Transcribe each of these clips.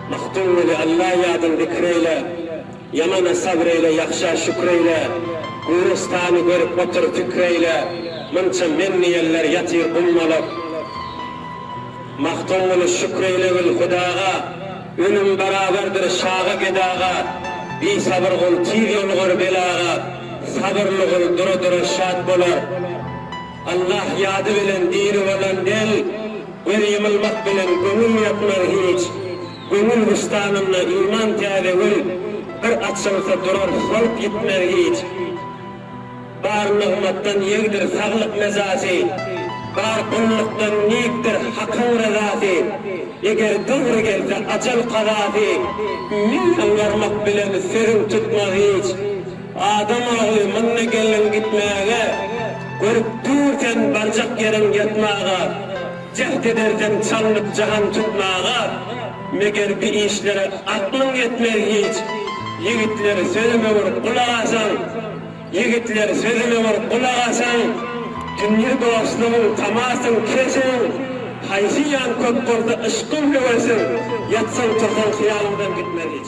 Magtymguly Alla ýadyn zikr eýle, Ýamana sabr eýle, ýagşa şükür eýle, Gürestany görüp otur pikir eýle, Munça men diýenler ýatyr gummalyk. Magtymguly Şükür eýlegil Hudaga. Öňüň barabardyr şaga gedaga, Bisabyr gul tiz ýolugar belaga, Sabyrly gul dura-dura şat bolar. Allah ýady bilen diri bolan del, Göz ýumulmak bilen göwnül ýatmaz hiç. Göwnül bustanynda iman täze gül, Bir açylsa durar, solup ýitmez hiç. Bar nygmatdan ýegdir saglyk mejasy, Bar gullukdan nygtdyr Hakyň rezasy, Eger döwri gelse ajal kazasy, Müň ýalbarmak bilen sözüň tutmaz hiç. Adam ogly munda geldiň gitmäge, Görüp dur sen barjak ýeriň ýatmaga. Jäht ederdim çalnyp jahan tutmaga, Meger bi işlere aklyň ýetmez hiç. Ýigitler sözüme bir gulak asaň, Ýigitler sözüme bir gulak asaň, Dünýe dostlugyň tamasyň keseň, Haýsy ýan köp bolsa yşkyň höwesiň, Ýatsaň tursaň hyýalyňdan gitmez hiç.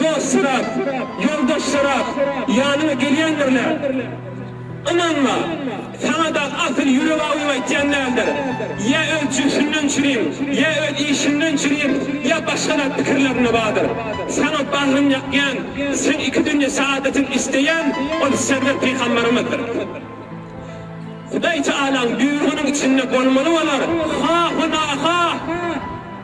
Dostlaram, ýoldaşlaram, ýanyma gelýändirler. Ynanma, saňa dagy asyl ýürek awym aýtýan däldir. Ýa öz jübsünden çürin, ýa öz işinden çürin, ýa başga zat pikirlerinde bardyr. Saňa bagryn ýakýan, seň iki dünýe saadatyňy isleýän ol Serwer Pygamberimiz-dir. Hudaý Tagalaň buýrugynyň içinde bolmaly bolar, ha-ha-na-ha!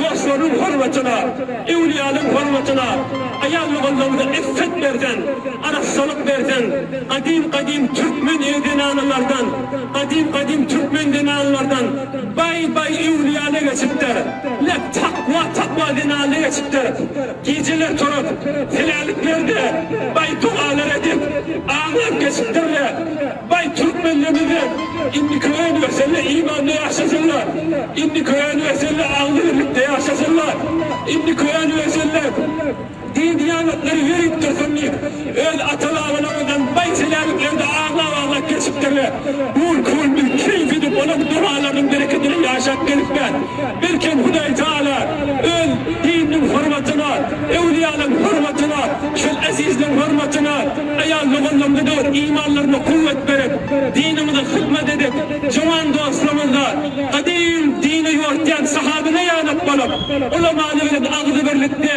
Dostlarynyň hormatyna, öwlüýälaryň hormatyna, aýal-ogullarymyza iffet berzen, arassalyk berzen, gadym-gadym türkmen er-zenanlardan, gadym-gadym türkmen zenanlardan baý-baý öwlüýäle geçipdir. Lek takwa-takwa zenanlara geçipdir. Gijeler turup, heläliklerde baý dogalar edip, aňlap geçipdirler. Baý türkmenlerimizem indiki önbeselle imanda ýaşasynlar, indiki önbeselle agzybirlikde ýaşasynlar, indiki önbeselle din-diýanatlary ýöritdirsin diýip, Öz ata-babalaryňyzdan baý çelerliklerde aglap-aglap geçipdirler. Gul-kuldur, keýpidir, olaryň dogalarynyň berekedine ýaşap gelipler. Belkem, Hudaý Taýala Öz dininiň hormatyna, öwlüýalaryň hormatyna, şol ezizleň hormatyna aýal-doganlaryňyza döwür imanlaryna kuwwat berip, diniňize hyzmat edip, juwan dostlaryňyzda gadym dini ýoritýan sahabyna ýanap bolup, ulamany bilen agzybirlikde,